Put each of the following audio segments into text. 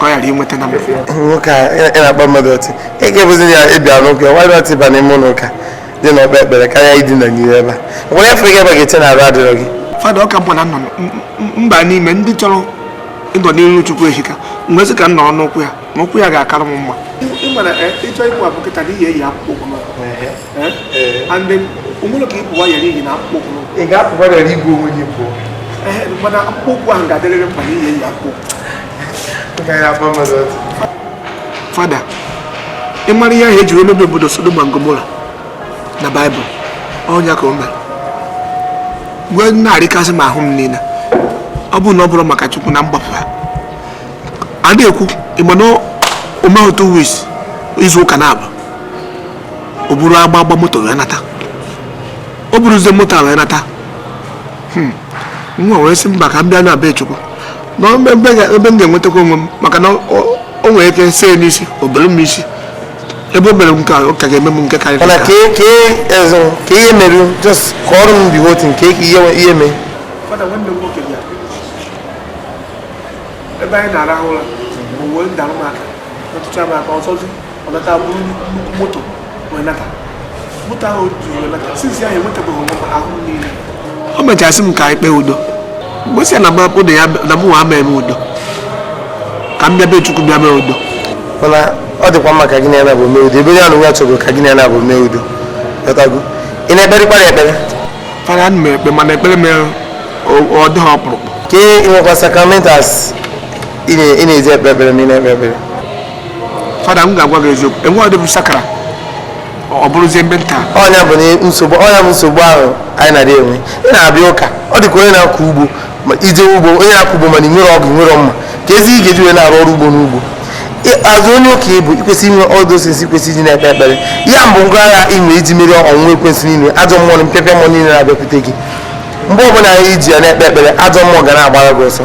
ka ọ ghara inweta na nwoke a ị na-akpọ mmadụ ọtị ị ga-ebuzi ya ịbịa n'ụka nwa ọtị ba n'ime ụlọ ụka dị na-ekpe ekpere karịa idina n'iro ebe a nwere afọ gị ebe ga-eche na arụ adịrọ gị fada ọka mkpọ na nọ m ba n'ime ndị chọrọ ịnọ n'iru chukwu ehika nwezi ka m nọrọ n'ụkwụ ya na ụkwụ ya ga-akara m mma ịchọ ịkwụ abụ kịta n'ihi eyi akwụkwọ Eh? Eh. and then o nwere ka ị pụwa yere iyi na akpụkpọ ụkwụ ị ga-apụwa yere igwe onwe gị pụọ eh, mana akpụkpọ ụkwụ ahụ ga-adịrịrị mkpa n'ihi eyi akpụ fada ị mara ihe ahụ e ji wee mebie obodo Sodoma na Gomora na baịbụl ọ nya ka o mere wee na-arịkasị m ahụ m niile ọ bụrụ na ọ bụrọ maka chukwu na mgbapụ ha a na-ekwu ị ma na o mehụ two weeks izu ụka naabọ o buru agba agba moto wee nata o buruzie moto a wee nata hmm. m wee sị mba ka m bịa na be chukwu na ebe m ga-enwetakwa onwe m maka na o nwere ike see n'isi o bere m isi ebe o mere nke ọ ka ga-eme m nke karịrị mana ka ka ezo ka ihe mere just ka ọrụ m bi wotu nke ka ihe ihe mee ebe anyị na-arahụ ụra bụ uwe ndalụ maka ọtụtụ amaka ọtụtụ ọ nata buru nnukwu moto wee nata moto ahụ juru wee nata since ahụ enwetabeghị onwe m ahụ niile o mechasị m ka anyị kpee udo m wee sị ya na mapụ na ya na mụ nwa mee m udo ka m bịa be chukwu bịa mee udo mana ọ dịkwa mma ka gị na ya naabọ mee udo ebe onye anụ ya chọgo ka gị na ya naabọ mee udo ghọtago ị na-ekperịkwara ekpere fada ana m ekpe mana ekpere m o- ọ dịghị ọkpụrụkpụ ka ị nwekwa sacramentals ị na-eji ekpe ekpere ma ị na-ekpe ekpere fada m ga-agwa gị eziokwu enwe ọdịbụ sakara ọ bụrụzie mbe nta ọ nya bụ nsogbu ọ nya bụ nsogbu ahụ anyị na-adị enwe ị na-abịa ụka ọ dị ka onye na-akọ ugbo na-eje ugbo onye na-akọ ugbo mana i nwerọ ọgụ nwerọ mma keezi ị ga-eji wee na-arụ ọrụ ugbo n'ugbo as onye ụka ị bụ i kwesị inwe all those things kwesị iji na-ekpe ekpere ya bụ ngwa agha i nwe iji merie ọnwụnwa ekwensu niile ajọ mmụọ na mpịapịa mmụọ niile na-abịakwute gị mgbe ọbụla i ji ya na-ekpe ekpere ajọ mmụọ ga na-agbara gị ọsọ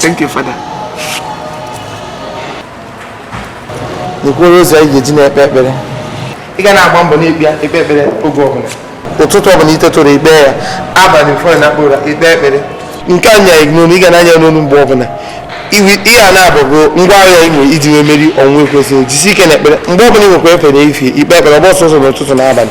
Thank you, Father. N'okporo ụzọ anyị ga-eji na-ekpe ekpere. Ị ga na-agba mbọ na-ekpe ekpe ekpere oge ọbụla. Ụtụtụ ọbụla i teta ụra i kpee ya, abalị before ị nakpuo ụra i kpee ekpere. Nke a na-anya n'onu, ị ga na-anya n'onu mgbe ọbụla. Ihe a naabọ bụ ngwa agha ị nwere iji wee merie ọnwụnwa ekwensu jisi ike na ekpere mgbe ọbụla ị nwekwa efe n'efifie i kpee ekpere ọ bụrọ sọsọ n'ụtụtụ na abalị.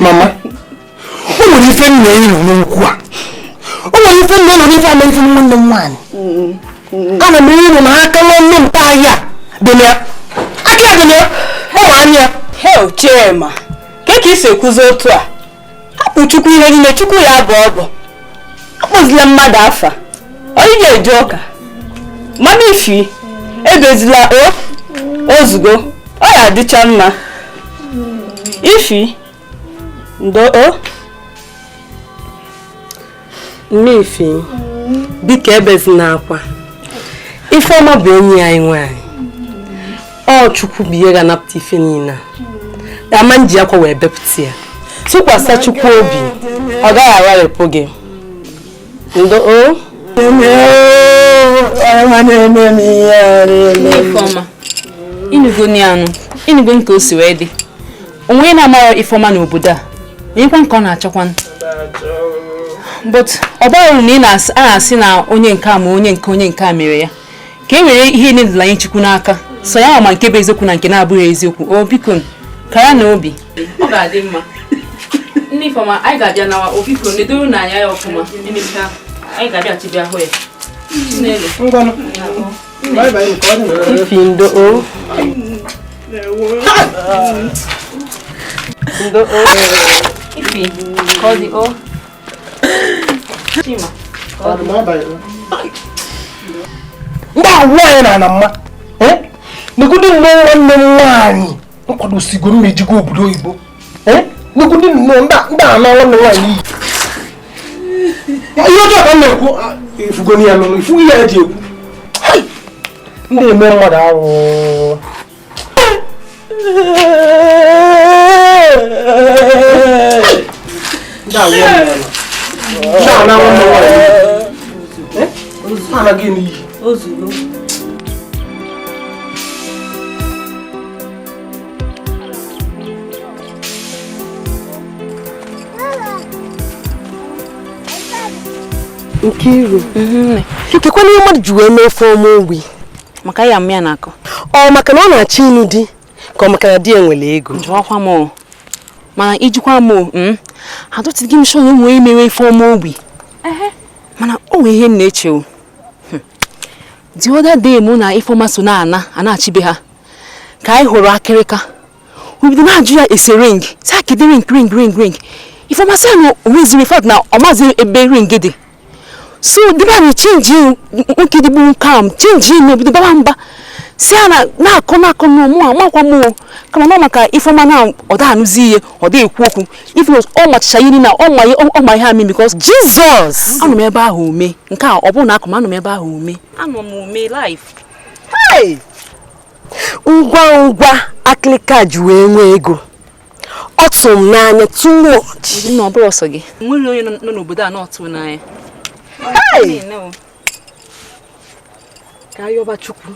mama o nwere ife nna ya nọ n'okwu a o nwere ife nna ya nọ n'ife ama ife nwanne m nwaanyị ana m ịnụ na aka nwanne m nta ya dị na ya aka ya dị na ya ọ nwa anya ya hei chi m a kee ka i si ekwuzi otu a hapụ chukwu ihe niile chukwu ya-abọ ọbọ akpọzila mmadụ afa onye ga-eje ụka mama ifi ebezila o o zugo ọ ya-adịcha mma ifi ndo o Mama Ifi, biko ebezina akwa. Ifeọma bụ enyi anyị nwaanyị. Ọ Chukwu bụ ihe ga-anapụta ife niile a. A ma-eji akwa wee bepụta ya. Tụkwasị Chukwu obi, ọ gaghị agharịpụ gị. Ndo o. Ifeọma, ị nụgo ni anụ, ị nụgo nke o si wee dị. o nwe onye na-amaghị ifeọma n'obodo a onyekwa ka ọ na-achọkwa but ọ bụrụ na ị na-asị na onye nke a ma onye nke onye nke a mere ya ka e were ihe ndị a nye chukwu n'aka sọ ya ma nke bụ eziokwu na nke na-abụghị eziokwu o biko kara na obi ọ ga-adị mma ndị ifeọma anyị ga-abịa na o biko nedoro ya anya ọfụma emechaa anyị ga-abịachi bịa hụ ya ifi ndo o ndo o ifi ka ọ dị o chima ka ọ dị ndị nwaanyị na-ama mma negodu nnọọ nwanne m nwaanyị nkwadosigoro m ejego obodo oyibo nnukwu ndị nnọọ ndị a na-anwụ nne nwaanyị iyi ihe ọjọọ ka m na-ekwu ị fụgo ya nụrụ ifu ihe e ji ekwu ndị eme mmadụ ahụ anaghị n'iyi Nkiru mhm. kekwanụ ihe mmadụ ji wee mee Ifeọma ogbi maka ya mmịa na-akọ ọ maka na ọ na-achọ ịnụ di ka ọ maka na di ya nwere ego jụọkwa m mana ijikwa m hmm? adịghị m sure onye mere Ifeọma ogbi mana o nwere ihe m na-eche o the other day mụ na ifeoma so na-ana anachi be ha ka anyị hụrụ akịrịka o bido na-ajụ ya ese ring sị ya kedụ ring ring ring ring ifeoma sị na o nweziri fat na ọ mazi ebe ring dị so di be anyị chenji nwoke dịgbu nke a chenji na o bido baba mba sị ya na na-akọ na-akọ na mụ amakwa m kama na maka ifeoma na ọ da-anụzi ihe ọ da-ekwu okwu even though ọ machicha ihe niile a, ọ ma ihe- ọ- ọ ma ihe amị because Jesus anọ m ebe ahụ o mee nke a abụrọ na a kọrọ m anọ m ebe ahụ o mee anọ m o mee live Hey! ngwa ngwa akịlịka ji wee nwee ego ọ tụrụ m n'anya too much na ọ bụrọ sọ gị nwere onye nọ n'obodo a na-ọtụ n'anya Hey! ka a yọba chukwu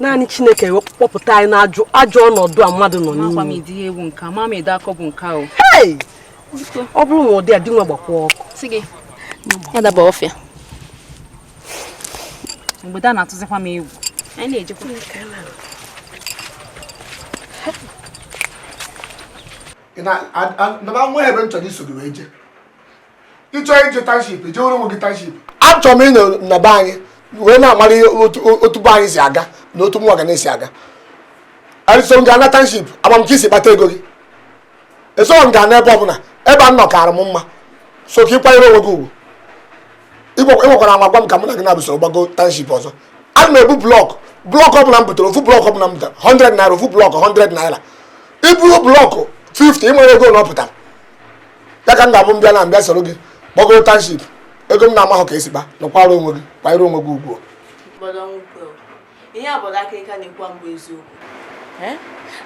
naanị chineke kpọpụta anyị n'ajụ ajọ ọnọdụ a mmadụ nọ n'ime ọ bụrụ na ụdị a dị nwa gbakwa ọkụ adaba ọfịa mgbede a na-atụzikwa m egwu anyị na-ejekwa na nwa ebe m chọrọ iso gị wee jee ị chọọ ije township jeere onwe gị township achọrọ m ịnọ na be anyị wee na-amara ihe otu otu be anyị si aga na otu mụwa ga na-esi aga eso m gaa na township ama m ka i si kpata ego gị eso m gaa n'ebe ọbụla ebe a nọ kaara m mma so ka ị kwanyere onwe gị ugwu Ị gwa- ị nwakwala anwa gwa m ka mụ na gị n'abụọ soro gbago township ọzọ ana m ebu block block ọbụla m butere ofu block ọbụla m butere 100 naira ofu block 100 naira i buru block 50 ị mara ego ole ọ pụtara ya ka m ga-abụ m bịa na-abịa soro gị gbagoro township ego m na-amahụ ka e si kpa nọkwara onwe gị kwanyere onwe gị ugwu ihe a bụ akịrịka na-ekwu bụ eziokwu eh?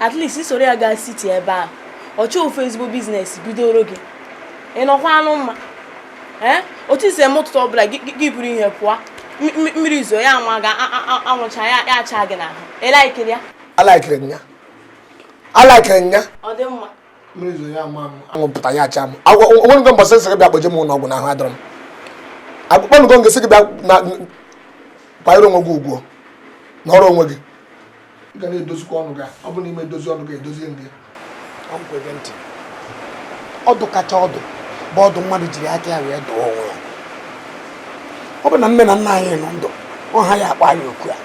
at least i soro ya gaa city ebe ahụ ọ chọọ ofu ezigbo business bidoro gị ị nọkwanụ mma eh? otu i si eme ụtụtụ ọbụla gị buru ihe pụọ mmiri zoo ya ama gị anwụ chaa ya acha gị n'ahụ ị laikiri ya alaikiri m ya alaikiri m ya ọ dị mma anwụ pụta ya acha m o nwenụgo mbọsị m sị gị bịa kpọje m ụlọ ọgwụ na ahụ adịrọ m akpọnụgo m gị sị gị bịa kwanyere onwe gị ugwu nọrọ onwe gị ị ga na-edozikwa ọnụ gị ọ bụ na ị ma edozi ọnụ gị edozi na ọdụ kacha ọdụ bụ ọdụ mmadụ jiri aka ya wee dụọ onwe ya ọ bụ na nne na nna anyị nọ ndụ ọ ha ya-akpọ anyị oku a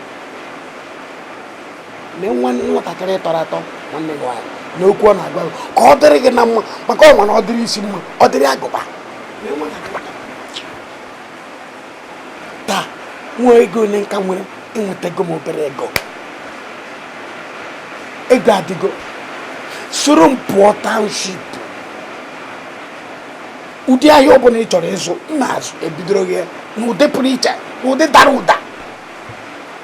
na nwa nwatakịrị tọrọ atọ nwanne gị nwaanyị n'okwu ọ na-agwa gị ka ọ dịrị gị na mma maka ọ ma na ọ dịrị isi mma ọ dịrị agụba taa nwa ego ole ka m nwere enwetago m obere ego ego adịgo soro m pụọ township ụdị ahịa ọbụla ị chọrọ ịzụ m na-azụ ebidoro gị n'ụdị pụrụ iche n'ụdị dara ụda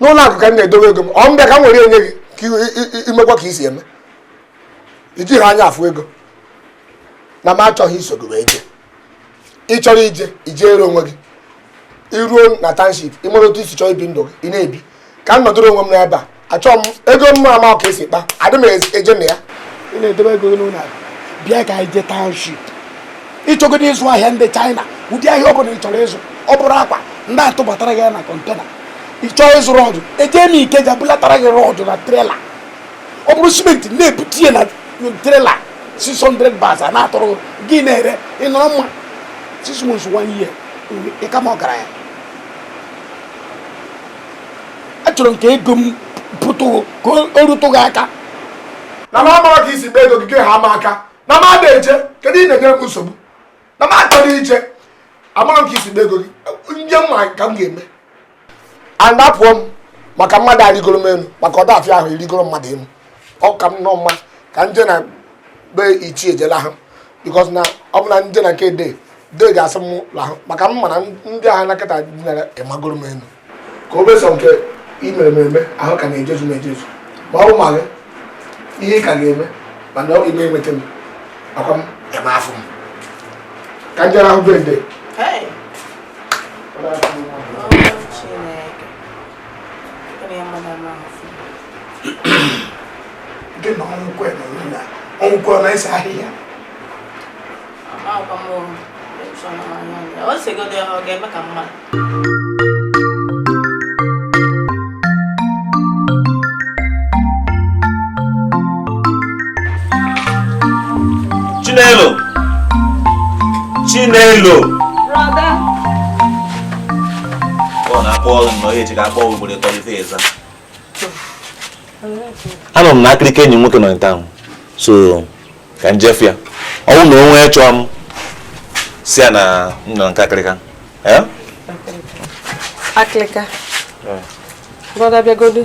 n'ụlọ akụ ka m na-edowe ego m ọ m bịa ka m were nye gị ka i- i- i- i mekwa ka i si eme ijighị anya afụ ego na m achọghị iso gị wee jee ị chọrọ ije i jeere onwe gị i ruo na township ị mara otu i si chọọ ibi ndụ gị ị na-ebi ka m nọdụrụ onwe m n'ebe a achọọ m ego m ma ama ka e si kpa adị m eje na ya ị na-edebe ego gị n'ụlọ akụ bịa ka anyị jee township ị chọgodo ịzụ ahịa ndị China ụdị ahịa ọ bụla ị chọrọ ịzụ ọ bụrụ akwa ndị atụbatara gị ya na kọntena ị chọọ ịzụ rọdụ ejee m Ikeja bulatara gị rọdụ na trela ọ bụrụ simenti na-ebute ya na trela 600 bags a na-atụrụ gị ị na-ere ị nọrọ mma six months one year ị ka m ọgaranya achọrọ m ka ego m pụtụ ka o rutụ gị aka na m amarọ ka i si kpa ego gị gị ha m aka na m ada eje kedu ihe ị na-enyere m nsogbu na m achọrọ ije amarọ m ka i si kpa ego gị m jee mara ka m ga-eme anapụọ m maka mmadụ arịgoro m elu maka ọ da afịa ahụ ịrịgoro mmadụ elu ọ ka m nọ mma ka m jee na be ichie ejela ha because na ọ bụ na m jee na nke dede ga-asị m lahụ maka m mana ndị agha na kịta dinara ịmagoro m elu ka o besọ nke i mere mere ahụ ka na-ejezu m ejezu ma ọ bụ ma gị ihe ị ka ga-eme mana ọ ime enweta m akwa m ebe afọ m ka njere ahụ bụ ede gị na ọnwụkwe na ọnwụkwe na ese ahịhịa Chinelo Chinelo Brother Ọ na-akpọ ọrụ nnọọ eji ga-akpọ ugboro ịtọ before ị za anọ m na akịrịka enyi nwoke nọ nta ahụ so ka m jee fụ ya ọ bụrụ na onye chọọ m sị ya na m nọ nke akịrịka eh? akịrịka eh. brọda bịagodu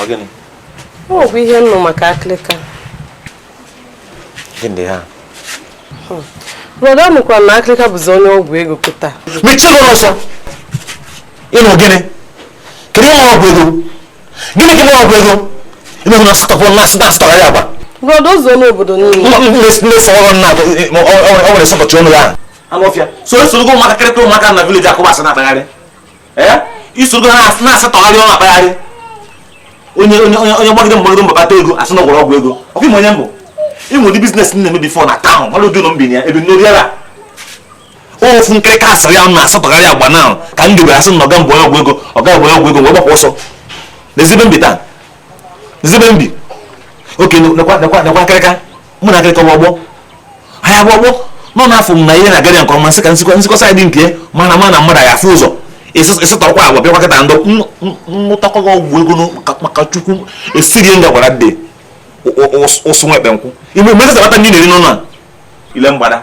ọ gịnị ọ bụ ihe m nụ maka akịrịka gịnị ha hmm. brọda nụkwara na akịrịka bụzi onye ọgwụ ego kịta mechie ọnụ ọsọ ị nụ gịnị kedu ihe ọgwụ ego gịnị gị mụrụ ọgwụ ego emeghị na asatọ kwụrụ na asatọ asatọgharị agba brọda ụzọ n'obodo niile na-eso ọrụ nna o nwere sọpọtụ ọnụ ya anụọfịa so i sorogo ụmụaka kịrịta ụmụaka na village akụba asị na-akpagharị i sorogo ha na-asatọgharị ọnụ akpagharị onye onye onye gbagide mbọ gbagide mbọ kpata ego a sị na ọ gwọrọ ọgwụ ego ọ kwa ị ma onye m bụ ị ma ụdị business m na-eme before na town ọrụ ụdị ụlọ mbinye ebe n'oriara ofu nkịrịka asịrị ya na-asọtọgharị agba na ka m debere asị na ọga mgbe ọgwụ ego ọga mgbe ọgwụ ego wee gbapụ ọsọ n'ezigbo mbi taa n'ezigbo mbi oke nekwa nekwa nekwa nkịrịka mụ na nkịrịka ọgbọ anyị agba ọgbọ nọ n'afọ m na ihe na-aga ya nke ọma nsị ka nsikwa nsikwa saịdị nke mana ma na mmadụ ya afụ ụzọ ịsụtọkwa agwa bịakwa kịta ndụ nnụtakwa gị ọgwụ ego maka chukwu esighị nga gwara dị ụsụ nwekpe nkwụ igbe mmadụ sabata ndị na-eri n'ụlọ a ile mgbada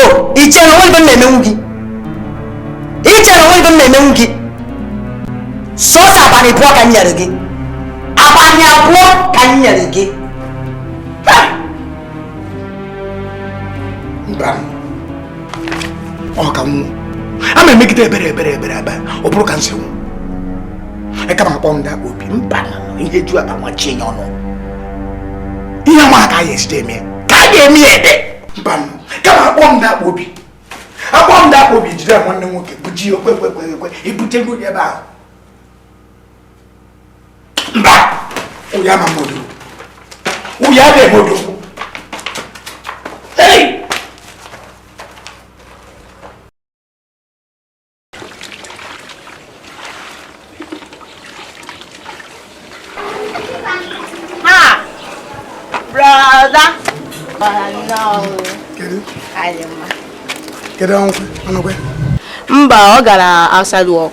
o i che na o nwe ihe m na-emenwu gị i che na o nwe ihe m na-emenwu gị sọsọ abalị abụọ ka m nyere gị abalị abụọ ka m nyere gị mba ọ ka nwụ a ma emegide ebere ebere ebere ebe ọ bụrụ ka m si nwụ e kama akpọ ndị akpa obi mba ihe ju akpa nwachie ya ọnụ ihe nwa ka ya esite eme ka a ga-eme ya ebe mba kama akpọ m na-akpọ obi akpọ m na-akpọ obi jide nwanne nwoke bụ ji okwe kwe kwe kwe ebute n'ụlọ ebe ahụ mba ụya ma modo ụya dị modo Hey! mba ọ gara outside work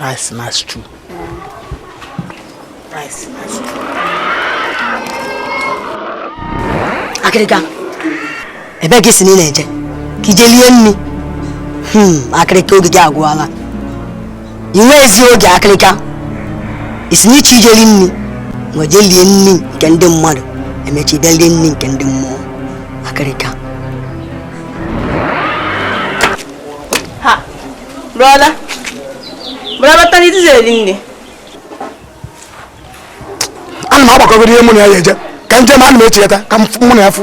rice na stew rice na stew akịrịka ebee ka i si na ị na-eje ka i jee lie nni hmm, akịrịka oge gị agwụala i nwezi oge akịrịka i si na ị chọ ije li nni ngwa jee lie nni nke ndị mmadụ emechi jee lie nni nke ndị mmụọ akịrịka brọda brọda tani dizi eri nni ana m agbakọgoro ihe mụ na ya ya eje ka njem ana m echeta ka mụ na ya fụ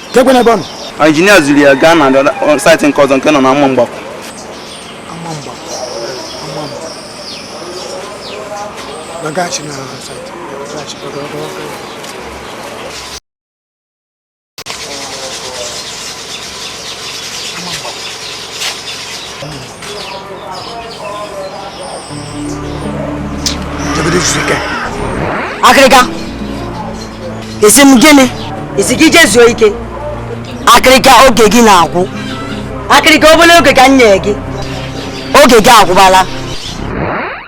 keekwanụ ebe ọ nọ injinia zuru ya gaa na saịtị nke ọzọ nke nọ na ama mgbakọ Nagachi na saịtị akịrịka ị sị m gịnị a sị gị jee zuo ike akịrịka oge gị na-agwụ akịrịka obere oge ka m nye gị oge gị agwụbala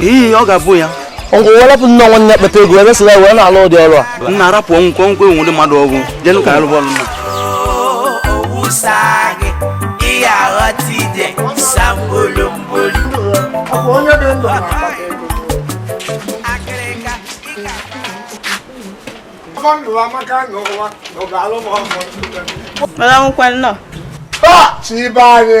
iyi ọ ga-abụ ya ngwa welapụ nne nwanne ya kpata ego ebe sila wee na-alụ ụdị ọrụ a nna arapụ ọnwụkwọ nkwe nwụdị mmadụ ọgwụ jenụ ka alụ bọọlụ nna Chibe anyị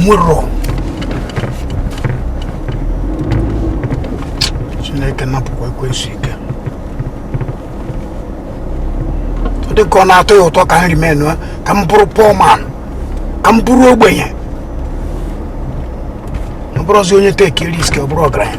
nwụrụ chineke napụkwa ekwensu ike ọ dị ka ọ na-atọ ya ụtọ ka m remain ka m bụrụ poor man ka m bụrụ ogbenye ọ bụrụzi onye take risk ọ bụrụ ọgaranya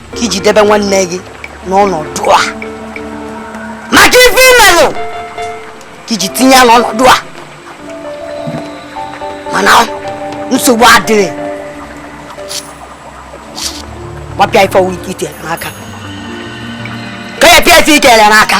ka i ji debe nwanne gị n'ọnọdụ a maka ife i melụ ka i ji tinye ya n'ọnọdụ a mana nsogbu adịrọ gbapịa ife ọwụ ike i tere n'aka ka ya pịa ife i tere n'aka